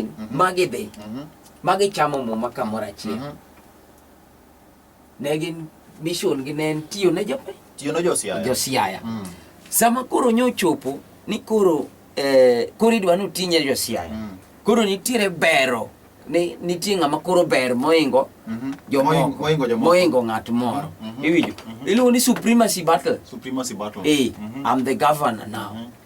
mhm. ma gidhi mhm. ma gichamo muma kamoro achiel mhm. ne gin mission gi ne en tiyo ne jopiny tiyo ne josiaya josiaya mm. sama koro nyochopo ni koro eh, koro idwa ni utinye josiaya mm. koro nitiere bero ni nitie ng'ama koro ber moingo mhm. moingo ng'at moro mhm. iwinjo mhm. iluongo ni supremacy battle supremacy battle eh i'm the governor now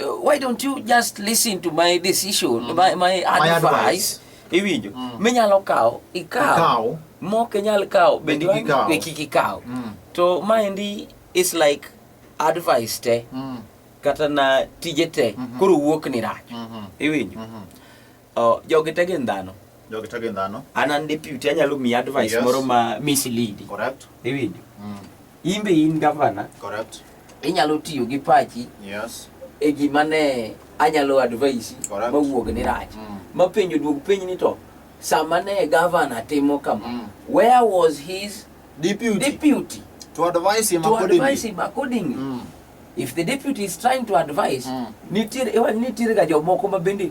uh, why don't you just listen to my decision mm. my, my advice, my advice. iwinjo mm. minyalo kawo ikawo mok inyal kawo bende be kik ikaw mm. to maendi is like advice te mm. kata na tije te mm -hmm. koro wuok ni rach mm -hmm. iwinjo mm -hmm. Oh, jogi te gin dhano. Jogi te gin dhano. An an deputy anyalo miyi advice yes. moro ma mislead. Correct. Iwinjo? Mm. In be in governor. Correct. Inyalo tiyo gi pachi. Yes. E gima ne anyalo advice mawuog ni rach. Mm. Mapenjo duog penj ni to sama ne governor timo kama. Mm. Where was his deputy? Deputy. To advise him to accordingly. To advise him accordingly. Mm. If the deputy is trying to advise, mm. nitiere, nitiere ga jomoko ma bende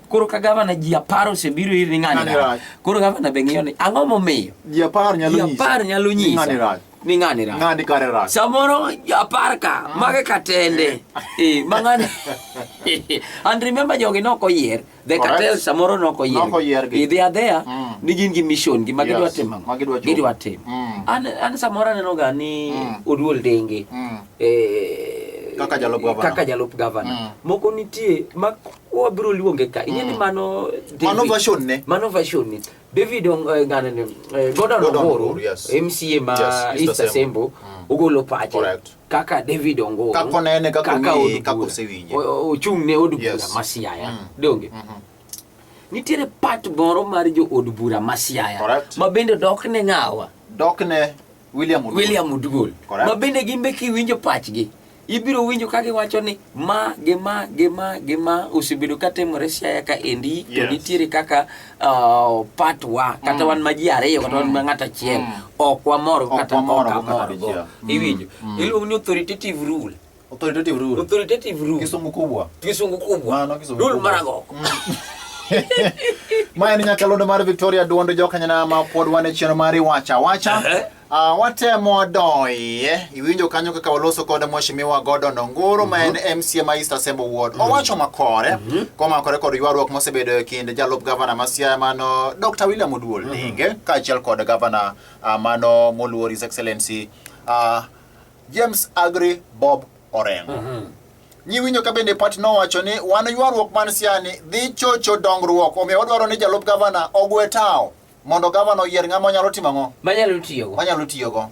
Koro ka gavana ji apar osebiro ir ni ng'ani rach. Koro gavana be ng'iyo ni ang'o momiyo? Ji apar nyalo nyisa. Ji apar nyalo nyisa. Ng'ani rach. Ni ng'ani rach. Ng'ani kare rach. Samoro ji apar ka mm. mage katende. Eh, ma ng'ani. And remember jogi nok oyier. The cartel samoro nok oyier. Nok oyier gi. Idhi adheya mm. ni gin gi mission gi ma gidwa timo. Ma gidwa timo. Gidwa timo. Mm. An an samoro aneno ga ni oduol denge. Eh kaka jalup gavana. Kaka jalup gavana. Moko nitie ma wabiro luonge ka ing'e ni mm. mano mano version ne mano version ne David eh, ngane ne eh, Gordon Ongoro MCA ma East Asembo mm. ogolo pache kaka David Ongoro kaka onene kaka ong'e kaka osewinje ochung' ne od bura ma Siaya mm. donge mm-hmm. nitiere part moro mar jo od bura ma Siaya ma bende dok ne ng'awa dok ne William Oduol ma bende gin be kiwinjo pachgi ibiro winjo ka giwacho ni ma gi ma gi ma gi ma osebedo ka timore siaya ka endi to Yes. nitiere kaka uh, part wa kata wan ma ji ariyo kata wan ma ng'at achiel Mm. ok wamor go Ok kata wamor ok go kata amor go dichiel. Mm. iwinjo Mm. iluongo ni authoritative rule authoritative rule authoritative rule kisungu kubwa kisungu kubwa Mano kisungu rule kubwa. marago ma en nyakalondo mar victoria duond jokanyana ma pod wan e chenro mar iwacha wacha Ehe. Uh, watemo doye iwinjo kanyo kaka waloso kod mweshimiwa Gordon Ongoro ma en MCA ma East Assembly Ward mhm. owacho makore mhm. komakore kod ywaruok mosebedo e kind jalup gavana ma Siaya mano Dr. William Oduol mhm. Dinge kaachiel kod gavana uh, mano moluor His Excellency uh, James Agri Bob Orengo Nyiwinyo ka bende pati nowacho ni wan ywaruok man siani dhi chocho dongruok omiyo wadwaro ni jalup gavana ogwe tawo mondo gavana oyier ng'ama onyalo timo ang'o? Manyalo tiyogo. Manyalo tiyogo.